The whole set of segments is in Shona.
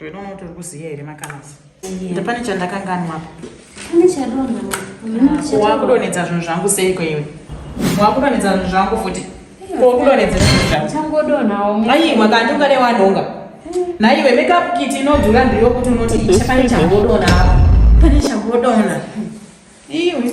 Ndoona kuti uri kuziya here makanazi. Ndopane chandakanganwa apa. Pane chadonha. Ah, Wakudonedza zvinhu zvangu seiko iwe. Wakudonedza zvinhu zvangu futi. Wakudonedza zvinhu zvangu. Changodonhawo. Ayi makandi ungade wanhonga. Naiwe makeup kit inodhura ndiyo kuti unoti pane changodonha apa. Pane changodonha. Iwe.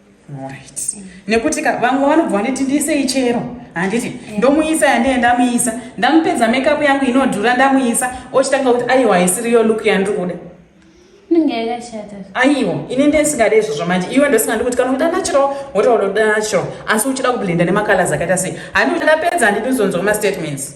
Right. Nekuti ka vamwe vanobva vaneti ndiisei chero handiti yeah. ndomuisa yandee ndamuisa ndamupedza makeup yangu inodhura ndamuisa ochitanga kuti aiwa haisiriyo look yandiri kuda inenge yakashata aiwa ini ndisingade izvozvo manje iwe ndosingadi kuti kana kuita natural wotaura kuda natural asi uchida kublenda nemacolors akaita sei handi ndapedza handidi uzonzwa mastatements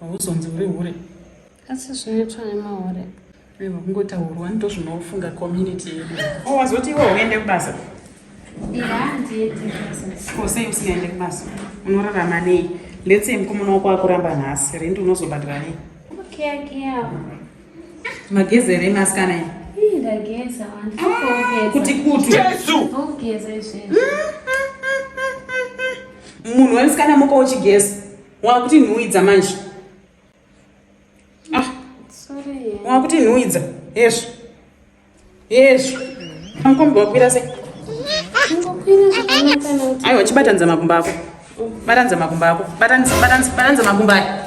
hauzonzi uri hure asi zvinoitwa nemahure iwe kungotaurwa ndozvinofunga community yedu oh, wazoti iwe uende kubasa ko sei usingaende kubasa unorarama nei let's say mukomana wako akuramba nhasi rendi unozobhadhira nei mageze ere masikana i ah, kuti kuti munhu wemusikana muka uchigeza wakuti nhuwidza manje ah. wakuti nhuwidza hezvo hezvo makombi wakwira se aiwa chibatanidza makumba ako batanidza makumba ako batanidza makumba ayo